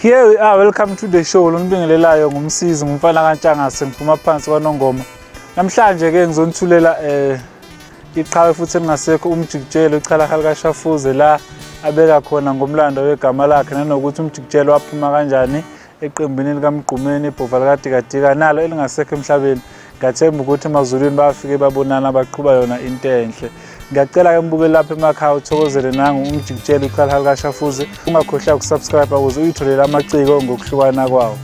Here we are, welcome to the show. Lonibingelelayo ngumsizi ngumfana kaNtshangase ngiphuma phansi kwaNongoma. Namhlanje ke ngizonithulela eh iqhawe futhi elingasekho umjikijelo ichalahali kaShafuze la abeka khona ngomlando wegama lakhe nanokuthi umjikijelo waphuma kanjani eqembini likamgqumeni ibhova likadikadika nalo elingasekho emhlabeni Ngiyathemba ukuthi emazulwini bafike babonana baqhuba yona into enhle. Ngiyacela-ke mbukeli lapha emakhaya uthokozele nangu umjikitshela uqala likashafuze ungakhohlwa ukusubscribe ukuze uyitholele amaciko ngokuhlukana kwawo.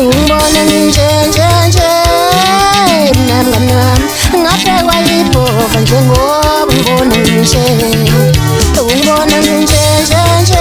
Ngibona nje nje nje mnanga mnami ngaphekwa ibhova njengoba ngibona nje ngibona nje nje nje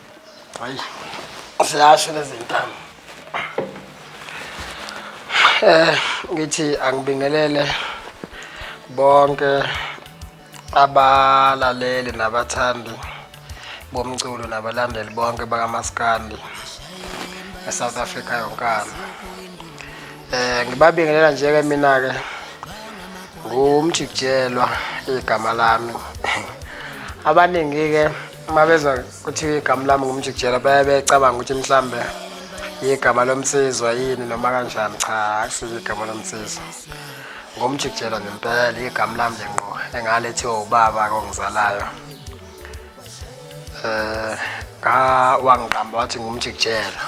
Hayi. Siyasho lezi ntamo. Eh ngithi angibingelele bonke abalaleli nabathandi bomculo nabalandeli bonke bakamaskandi eSouth Africa yonkana eh ngibabingelela nje ke mina ke ngumjikijelwa igama lami abaningi ke uma bezwa kuthiwa igama lami ngumjikijela baye becabanga ukuthi mhlawumbe yigama lomsizwa yini noma kanjani cha akusiyo igama lomsizwa ngomjikijela ngempela igama lami nje ngqo engalethiwa ubaba kongizalayo eh ka wangiqamba wathi ngumjikijela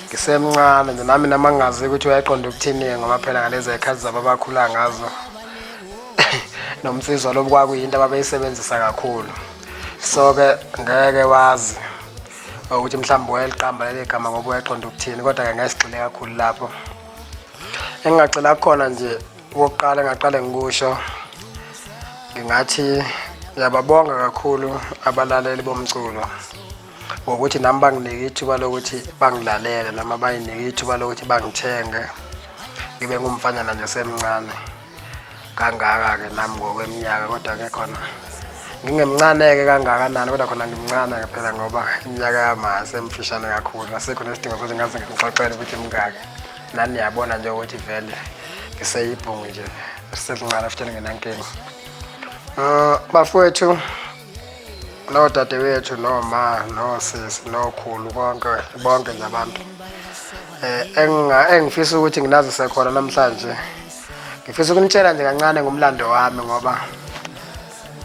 ngisemncane nje nami namangazi ukuthi uyayiqonda ukuthini ngoba phela ngalezi ekhathi zabo abakhula ngazo nomsizwa lobu kwakuyinto ababeyisebenzisa kakhulu so ke ngeke wazi ukuthi mhlawumbe wayeliqamba leli gama ngoba wayeqonda ukuthini kodwa-ke ngasigxile kakhulu lapho engingagxila kukhona nje okokuqala engaqale ngikusho ngingathi ngiyababonga kakhulu abalaleli bomculo ngokuthi nami banginike ithuba lokuthi bangilalele noma bayinike ithuba lokuthi bangithenge ngibe ngumfanyana nje semncane kangaka-ke nami ngokweminyaka kodwa ke khona ngingemncane-ke kangakanani kodwa khona ngimncane phela ngoba iminyaka yamase emfishane kakhulu asekho nesidingo sokuthi ngaze ngimxoxele ukuthi mngaki nani niyabona nje ukuthi vele ngiseyibhungu nje selincane futhi ngingenankinga um bafowethu noodadewethu noma nosisi nokhulu konke bonke nje abantu um engifisa ukuthi nginazise khona namhlanje ngifisa ukunitshela nje kancane ngomlando wami ngoba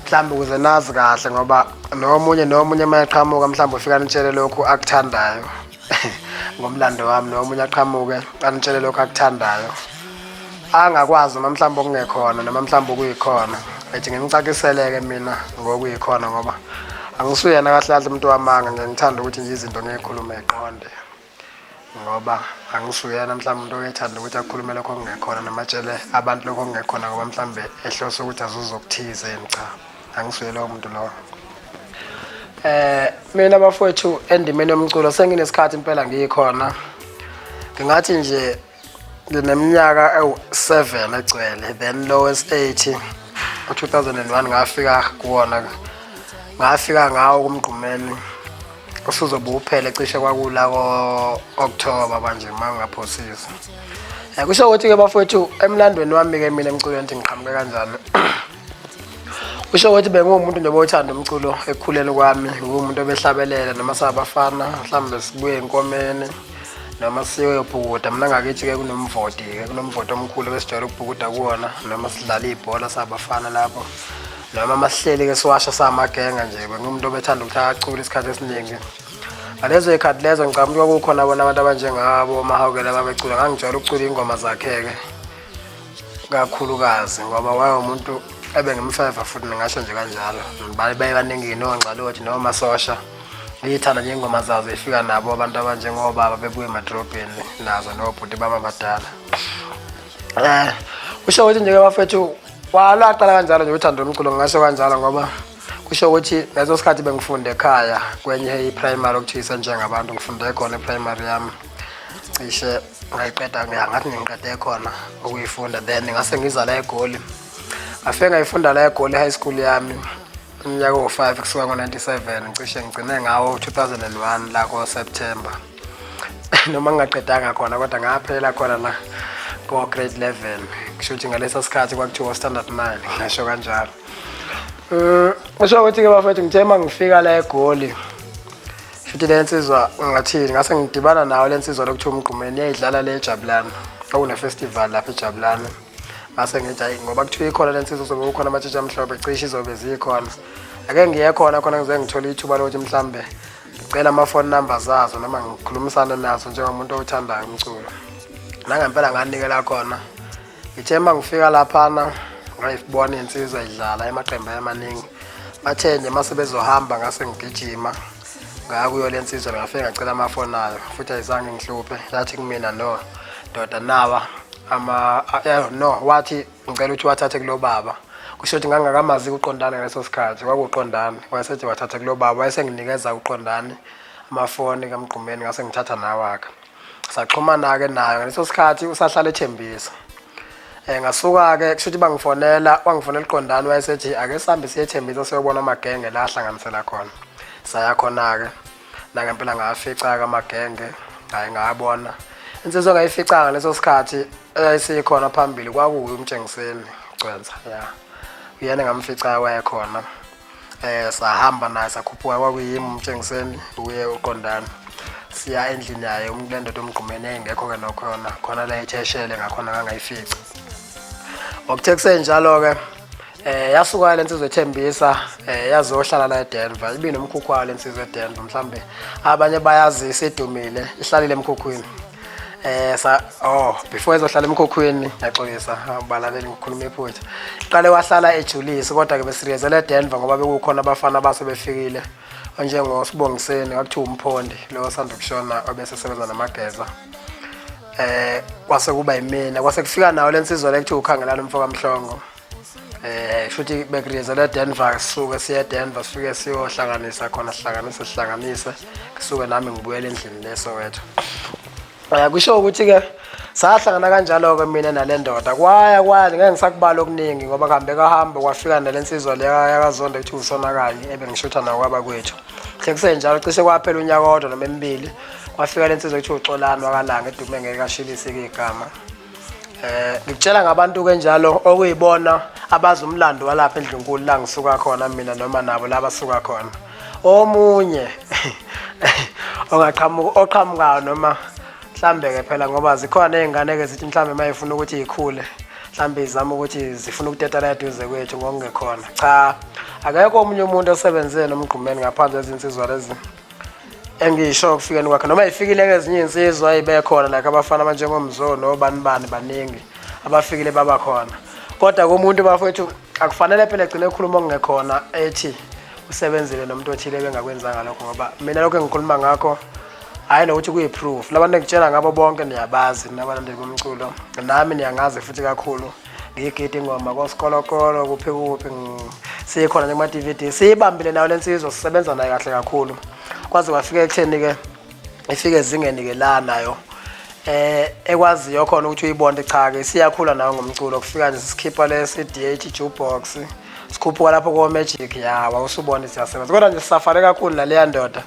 mhlawumbe ukuze nazi kahle ngoba nomunye nomunye uma eqhamuka mhlawumbe ufika nitshele lokhu akuthandayo ngomlando wami nomunye aqhamuke anitshele lokho akuthandayo angakwazi noma mhlawumbe okungekhona noma mhlawumbe okuyikhona ethi ngimcakiseleke mina ngokuyikhona ngoba angisuyena kahle kahle umuntu wamanga ngiyangithanda ukuthi nje izinto ngiyikhulume eqonde ngoba angisuyena mhlawumbe umuntu oyethanda ukuthi akhulume lokho okungekhona noma atshele abantu lokho okungekhona ngoba mhlawumbe ehlose ukuthi azuze okuthize yini cha angisuye lowo muntu lowo eh mina bafowethu endimeni yomculo senginesikhathi impela ngiyikhona ngingathi nje ngineminyaka ewu-7 egcwele then lowest 80 u-2001 ngafika kuwona ngafika ngawo kumgqumeni usuzobe uphele cishe kwakula ko-okthoba manje uma ngingaphosisa um kusho ukuthi-ke bafowethu emlandweni wami-ke mina emculweni ukuthi ngiqhamuke kanjalo usho ukuthi benguwumuntu nje bothanda umculo ekukhuleni kwami nguwumuntu obehlabelela noma sabafana mhlawumbe sibuye enkomeni noma siyoyobhukuda mina ngakithi-ke kunomvoti-ke kunomvoti omkhulu besijwayele ukubhukuda kuwona noma sidlala ibhola sabafana lapho noma masihleli-ke siwasha samagenga nje bengumuntu obethanda ukuthi akacula isikhathi esiningi ngalezo yikhathi lezo ngicabanga ukuthi kwakukhona bona abantu abanjengabo omahawukela babecula ngangijwayele ukucula iy'ngoma zakhe-ke kakhulukazi ngoba wayewumuntu ebengimfeva futhi ningasho nje kanjalo baye baningi nongxalothi nomasosha ngiyithanda nje ingoma zazo ifika nabo abantu abanjengobaba bebuye emadrobheni nazo nobhuti baba badala um eh, kusho ukuthi nje-ke bafethu walaqala kanjalo nje uthando lomculo ngingasho kanjalo ngoba kusho ukuthi leso sikhathi bengifunde ekhaya kwenye i-primary okuthiwa isenjengabantu ngifunde khona e-primary yami cishe ngayiqeda ke angathi ngiqede khona ukuyifunda then ngase ngizala egoli ngafike ngayifunda la egoli high school yami umnyaka wo-five kusuka ngo-97 ngicishe ngigcine ngawo 2001 la ko-september noma ngingaqedanga khona kodwa ngaphela khona la ko-grade 11 kusho ukuthi ngaleso sikhathi kwakuthiwa standard 9 ngasho kanjalo um usho ukuthi-ke bafethu ngithe uma ngifika la egoli Futhi le nsizwa ngathini ngase ngidibana nawo le nsizwa lokuthiwa umgqumeni yayidlala le ejabulana okunefestival lapha ejabulana ngase ngithi hayi ngoba kuthiwa ikhona le nsizwa uzobe ukhona amatshitshi amhlophe cishe izobe zikhona ake ngiye khona khona ngize ngithole ithuba lokuthi mhlawumbe ngicela ama-phone number zazo noma ngikhulumisane nazo njengomuntu owuthandayo umculo nangempela nganikela khona ngithe uma ngifika laphana ngayibona insizwa idlala emaqembu ayamaningi bathe nje uma sebezohamba ngase ngigijima ngaya kuyo le nsizwa ngafike ngacela amafoni ayo futhi ayizange ngihluphe yathi kumina no ndoda nawa ama eh, no wathi ngicela ukuthi wathathe kulo baba kusho ukuthi ngangakamazi kuqondana ngaleso sikhathi kwakuqondana wayesethi wathathe kulo baba wayesenginikeza uqondane amafoni kamgqumeni ngase ngithatha nawaka saxhumana-ke nayo ngaleso sikhathi usahlala ethembisa um ngasuka-ke kusho ukuthi bangifonela wangifonela iqondani wayesethi ake sihambe siyethembisa siyobona amagenge la ahlanganisela khona saya khona-ke nangempela ngawafica-ke amagenge ngaye ngawabona insizwa ngayificanga ngaleso sikhathi eyayisikhona phambili kwakuwuye umtshengiseni gcwensa ya uyena ngamficayo wayekhona eh sahamba naye sakhuphuka kwakuyimi umtshengiseni uye uqondana siya endlini yaye umuntu lendoda omgqumene engekho ke nokho yona khona la etheshele ngakhona ngangayifici okuthe kusenjalo ke eh yasuka lensizwe ethembisa eh yazohlala la eDenver ibe nomkhukhu wayo lensizwe eDenver mhlambe abanye bayazi isidumile ihlalile emkhukhwini eh sa oh before ezohlala emkhokhweni yaxolisa ubalaleli ngikhuluma iphutha qale wahlala ejulisi kodwa ke besiriyezela eDenver ngoba bekukhona abafana abase befikile onjengo Sibongiseni wakuthiwa umphondi lo sanda kushona obesesebenza namageza eh kwase kuba yimina kwase kufika nawo lensizwa lekuthiwa ukhangelana umfoka Mhlongo eh futhi bekriza la Denver sisuke siya Denver sifike siyohlanganisa khona sihlanganise sihlanganise kusuke nami ngibuyele endlini leso wethu eh kusho ukuthi ke sahlangana kanjalo ke mina nalendoda kwaya kwaya ngeke ngisakubala okuningi ngoba kuhambe kahamba kwafika nalensizwa leya yakazonda ukuthi usonakanye ebengishutha nawo kwaba kwethu hle kusenjalo cishe kwaphela unyaka kodwa noma emibili kwafika lensizwa ukuthi uxolani wakalanga edume ngeke ashilise igama Eh ngikutshela ngabantu ke njalo okuyibona abazi umlando walapha endlunkulu la ngisuka khona mina noma nabo laba suka khona. Omunye ongaqhamuka oqhamukayo noma mhlambe ke phela ngoba zikhona izingane ke zithi mhlambe mayifuna ukuthi ikhule mhlambe izama ukuthi zifuna ukuteta la eduze kwethu ngokungekhona. Cha akekho omunye umuntu osebenze nomgqumeni ngaphandle ezinsizwa lezi. engisho ukufikeni kwakhe noma ifikile ke ezinye insizwa ibekhona like abafana abanjengomzo nobani bani baningi abafikile baba khona kodwa komuntu bafowethu akufanele phela egcine ekhuluma okungekhona ethi usebenzile nomuntu othile bengakwenzanga lokho ngoba mina lokho engikhuluma ngakho hhayi nokuthi kuyi-proof labantu engitshela ngabo bonke niyabazi nabalandeli bomculo nami niyangazi futhi kakhulu ngiyigide ingoma kosikolokolo kuphi kuphi sikhona nekuma-dvd siyibambile nayo le nsizwa sisebenza naye kahle kakhulu kwaze kwafika ekutheni-ke ifike ezingeni-ke la nayo eh ekwaziyo khona ukuthi uyibonde cha-ke siyakhula nayo ngomculo kufika nje sikhipha le-cdh jukebox sikhuphuka lapho komagic ya wawusubona siyasebenza kodwa nje sisafare kakhulu naleya ndoda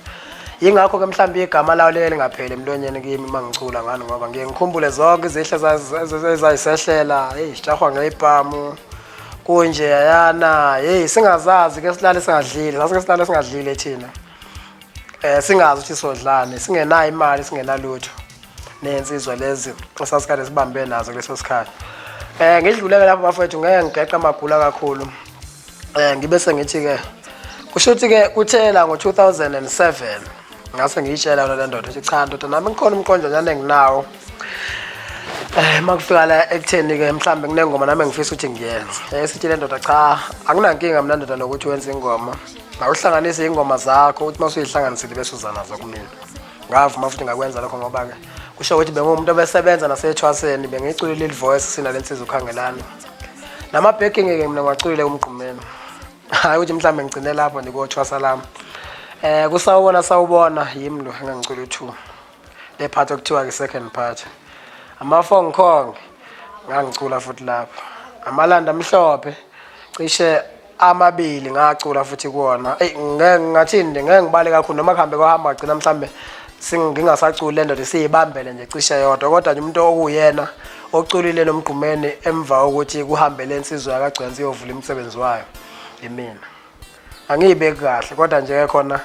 yingakho ke mhlawumbe igama lawo leli ngapheli emlonyeni kimi uma ngicula ngani ngoba ngiye ngikhumbule zonke izihle ezayisehlela heyi sijahwa ngeyibhamu kunje yayana heyi singazazi ke silale singadlile sasike silale singadlile thina eh singazi ukuthi sodlani singenayo imali singenalutho nensizwa lezi esasikade sibambe nazo kuleso sikhathi eh ngidluleke lapho bafethu ngeke ngigeqa amagula kakhulu eh ngibe sengithi ke kusho ukuthi ke kuthela ngo2007 ngase ngiyitshela yona le ndoda ukuthi cha ndoda nami ngikhona umqonjanyana enginawo eh makufika la ekutheni ke mhlambe kunengoma nami engifisa ukuthi ngiyenze eh sithi le ndoda cha anginankinga mina ndoda lokuthi wenze ingoma ngawuhlanganise ingoma zakho uthi masuyihlanganisile bese uza nazo kumina ngavuma futhi ngakwenza lokho ngoba ke kusho ukuthi bengumuntu obesebenza nasethwaseni bengicule leli voice sina lensiza ukhangelana namabheki ngeke mina ngiwaculile umgqumeni hayi ukuthi mhlawumbe ngigcine lapho ndikothwasa lami um kusawubona sawubona yimi lo engangicula u-two le part okuthiwa ke second part amafong kong ngangicula futhi lapho amalanda amhlophe cishe amabili ngacula futhi kuwona eyi ngeke ngathini nje ngeke ngibale kakhulu noma kuhambe kwahamba gcina mhlawumbe ngingasaculi le ndoda siyibambele nje cishe yodwa kodwa nje umuntu okuwuyena oculile lo mgqumeni emva kokuthi kuhambe le nsizwa yakagcwensi iyovula imisebenzi wayo yimina angiyibeki kahle kodwa nje khona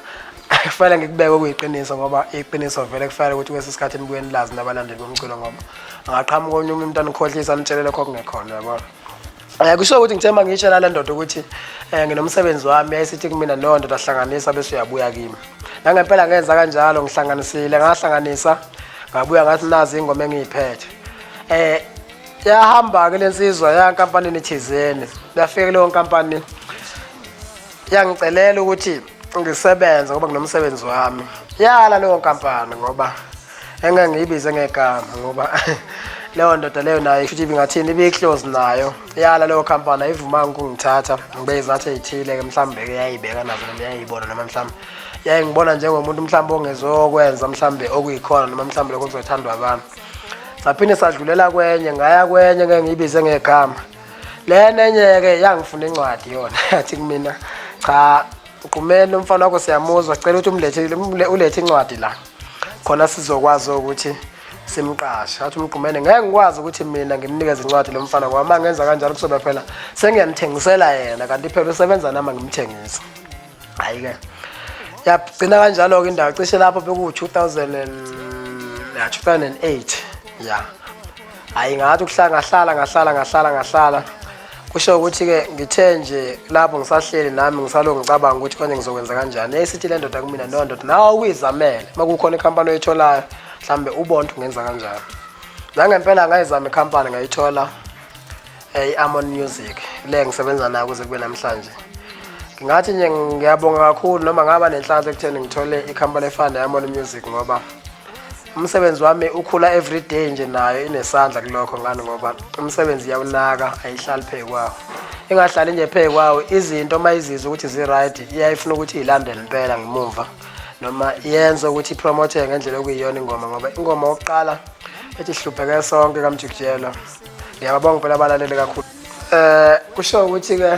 kufanele ngikubeke okuyiqiniso ngoba iqiniso vele kufanele ukuthi kwesi sikhathi nibuye nilazi nabalandeli bomculo ngoba angaqhamuka onye umuntu anikhohlisa anitshele lokho okungekhona yabo um eh, kusho ukuthi ngithe uma ngiyitshela le ndoda ukuthi um nginomsebenzi wami yayisithi kumina leyo ndoda hlanganisa bese uyabuya kimi nangempela ngenza kanjalo ngihlanganisile ngahlanganisa ngabuya ngathi nazi ingoma engiyiphethe um yahamba-ke le nsizwa ya nkampanini thizeni yafika leyo nkampani yangicelela ukuthi ngisebenze ngoba nginomsebenzi wami yala leyo nkampani ngoba engeke ngiyibize ngegama ngoba leyo ndoda leyo nayo futhi ibingathini ibiyihlozi nayo yala leyo khampani ayivumanga ukungithatha ngibe izathu eyithile-ke mhlawumbe-ke yayibeka nazo noma yayibona noma mhlawumbe yayingibona njengomuntu mhlawumbe ongezokwenza mhlawumbe okuyikhona noma mhlawumbe lokho kuzothandwa abantu saphinde sadlulela kwenye ngaya kwenye ngeke ngiyibize ngegama lena enye-ke yangifuna incwadi yona yathi kumina cha uqumeni umfana wakho siyamuzwa sicela ukuthi umlethe ulethe incwadi la khona sizokwazi ukuthi simqashe athi umgqumene ngeke ngikwazi ukuthi mina ngimnikeze incwadi lo mfana ngoba uma ngenza kanjalo kuzobe phela sengiyamthengisela yena kanti phela usebenza nami ngimthengisa hayi ke yagcina kanjalo-ke indawo cishe lapho bekuwu-2008 ya hayi ngathi ukuhlala ngahlala ngahlala ngahlala ngahlala kusho ukuthi-ke ngithe nje lapho ngisahleli nami ngisalo ngicabanga ukuthi konje ngizokwenza kanjani eyisithi le ndoda kumina no ndoda nawe ukuyizamele uma kukhona ikhampani oyitholayo mhlawumbe ubonto ungenza kanjani nangempela ngayizama ikhampani ngayithola Hey Amon Music le ngisebenza nayo kuze kube namhlanje ngingathi nje ngiyabonga kakhulu noma ngaba nenhlanhla ekutheni ngithole ikhampani efana ne-Amon Music ngoba umsebenzi wami ukhula every day nje nayo inesandla kulokho ngani ngoba umsebenzi iyawunaka ayihlali phezu kwawo ingahlali nje phezu kwawo izinto uma izizwa ukuthi zi-right iyayifuna ukuthi iyilandele impela ngemumva noma yenze ukuthi ipromotheke ngendlela okuyiyona ingoma ngoba ingoma yokuqala ethi sihlupheke sonke kamjikijelo ngiyababonga phela abalaleli kakhulu eh kusho ukuthi ke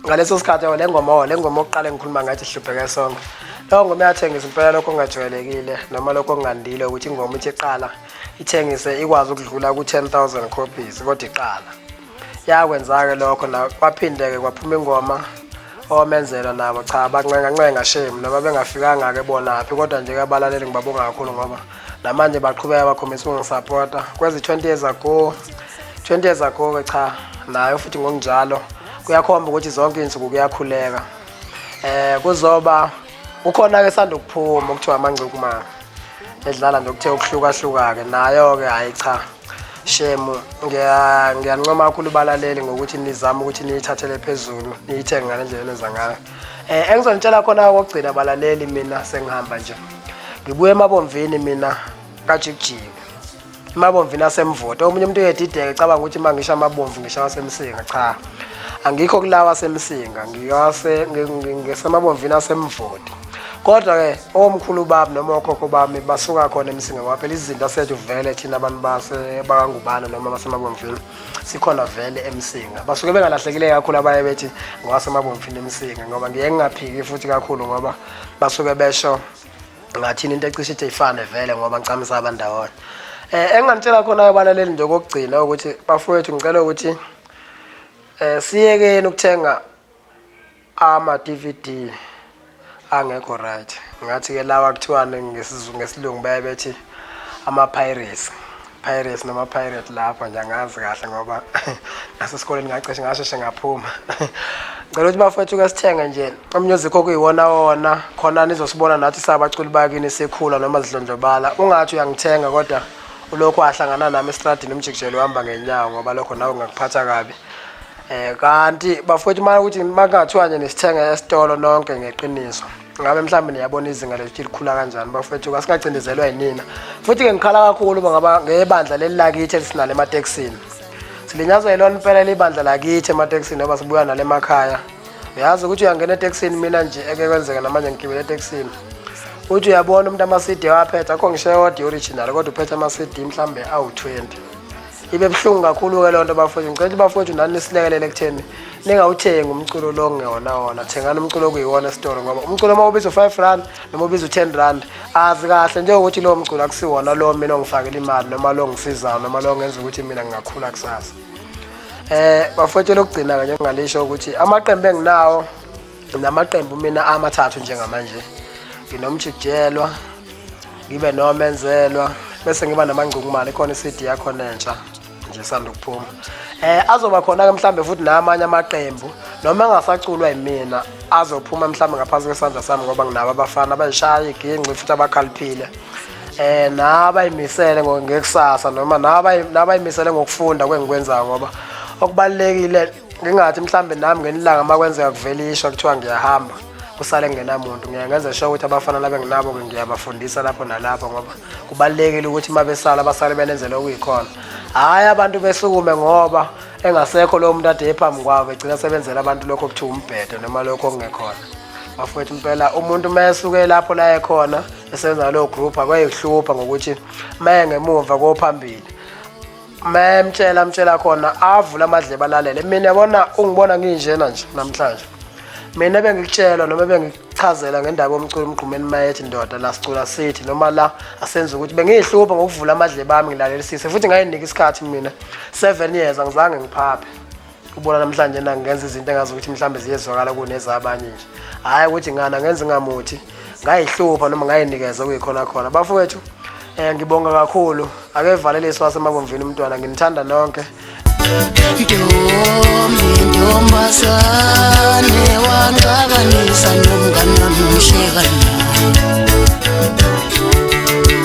ngaleso sikhathi le ngoma oh, le ngoma oqale ngikhuluma ngathi hlupheke sonke leyo ngoma yathengisa impela lokho kungajwayelekile noma lokho kungandile ukuthi ingoma ithi iqala ithengise ikwazi ukudlula ku-10 000 copies kodwa iqala yakwenzake lokho na kwaphindeke kwaphuma ingoma omenzela nabo cha bancengancenga shame noma bengafikanga-ke bonaphi kodwa nje abalaleli ngibabonga kakhulu ngoba namanje baqhubeka bakhombisa ukungisapota kwezi-20 years ago 20 years ago-ke cha nayo futhi ngokunjalo kuyakhomba ukuthi zonke iy'nsuku kuyakhuleka um kuzoba kukhona-ke sanda ukuphuma okuthiwa amangcukumama edlala nje okuthe ukuhlukahluka-ke nayo-ke hhayi cha shemu ngiya- ngiyancoma kakhulu balaleli ngokuthi nizame ukuthi niyithathele phezulu niyithenge ngale ndlela enenza ngayo um engizonitshela khona kokugcina balaleli mina sengihamba nje ngibuye emabomvini mina kajikijiki emabomvini asemvoto omunye umuntu uyedideke cabanga ukuthi uma ngisho amabomvu ngisho awasemsinga cha angikho kulawa asemsinga ngiwase- ngi- ngi- ngisemabomvini asemvoto kodwa ke omkhulu bami noma okhokho bami basuka khona emsinga ngoba phela izinto asethu vele thina abantu bakangubana noma basemabomfini sikhona vele emsinga basuke bengalahlekile kakhulu abaye bethi ngowasemabomfini emsinga ngoba ngiye ngingaphiki futhi kakhulu ngoba basuke besho ngathini into ecishe ithi ifane vele ngoba ngicamisa abandawonye um eh, engingamtshela khona abalaleli nje okokugcina ukuthi bafowethu ngicela ukuthi um siyekeni ukuthenga Ama DVD angekho right. Ngathi ke lawa kuthiwani ngesizulu ngesilungu baye bethi ama pirates. Pirates noma pirate lapha nje angazi kahle ngoba nasesikoleni ngaceshe ngasheshe ngaphuma. Ngicela ukuthi bafethu ke sithenge nje umusic okuyiwona wona khona nizosibona nathi sabaculi bakini sikhula noma zidlondlobala. Ungathi uyangithenga kodwa ulokhu ahlangana nami estradini umjikijelo uhamba ngenyawo ngoba lokho nawe ngakuphatha kabi. Eh kanti bafowethu manje ukuthi makungathiwa nje nisithenga esitolo nonke ngeqiniso. Ngabe mhlawumbe niyabona izinga lethu likhula kanjani bafowethu kasingacindezelwa yinina. Futhi ke ngikhala kakhulu ngaba ngebandla leli lakithi elisinale emateksini. Silinyazwa yilona impela libandla lakithi emateksini ngoba sibuya nale emakhaya. Uyazi ukuthi uyangena eteksini mina nje eke kwenzeka namanje ngigibele eteksini. Uthi uyabona umuntu ama-CD waphetha akho ngisho eyodwa i-original kodwa uphethe ama-CD mhlawumbe awu-20. ibe buhlungu kakhulu-ke loo nto bafowethu ngicela ukuthi bafowethu nani nisilekelele ekutheni ningawuthengi umculo lo ngewona wona thengani umculo okuyiwona esitoro ngoba umculo uma ubiza u-five rand noma ubiza u-ten rand azi kahle njengokuthi lowo mculo akusiwona lo mina ongifakela imali noma lo ngisizayo noma lo ngenza ukuthi mina ngingakhula kusasa um bafowethu lokugcina-ke njengingalisho ukuthi amaqembu enginawo namaqembu mina amathathu njengamanje nginomjikijelwa ngibe nomenzelwa bese ngiba namangcungumane khona i-cd yakhona entsha nje sanda ukuphuma eh azoba khona ke mhlambe futhi namanye amaqembu noma engasaculwa yimina azophuma mhlambe ngaphansi kwesandla sami ngoba nginabo abafana abayishaya iginci futhi abakhaliphile eh nabayimisele ngekusasa noma nabayimisele ngokufunda kwengikwenzayo ngoba okubalekile ngingathi mhlawumbe nami ngenilanga uma kwenzeka kuvela isho kuthiwa ngiyahamba kusale ngenamuntu ngiye ngenze sho ukuthi abafana labe nginabo-ke ngiyabafundisa lapho nalapho ngoba kubalulekile ukuthi uma besala abasale benenzele okuyikhona hhayi abantu besukume ngoba engasekho lowo muntu ade ephambi kwabo begcina sebenzela abantu lokho okuthiwa umbhedo noma lokho okungekhona bafowethu impela umuntu uma esuke lapho la ekhona esenza leyo group akwayehlupha ngokuthi uma engemuva kophambili Me mtshela mtshela khona avula amadlebe alalele. Mina yabona ungibona nginjena nje namhlanje. Mina bengikutshelwa noma bengikuchazela ngendaba yomculo umgqumeni mayethi ndoda la sicula sithi noma la asenza ukuthi bengiyihlupha ngokuvula amadlebe ami ngilalelisise futhi ngayinika isikhathi mina 7 years angizange ngiphaphe. ubona namhlanje na ngenza izinto engazi ukuthi mhlawumbe ziyezwakala kunezabanye nje hhayi ukuthi ngana ngenza ingamuthi ngayihlupha noma ngayinikeza kuyikhona khona bafowethu um ngibonga kakhulu akevaleliswa wasemabomvini umntwana nginithanda nonke ntombi ntombazane wangakanisa nomnganami mhlekana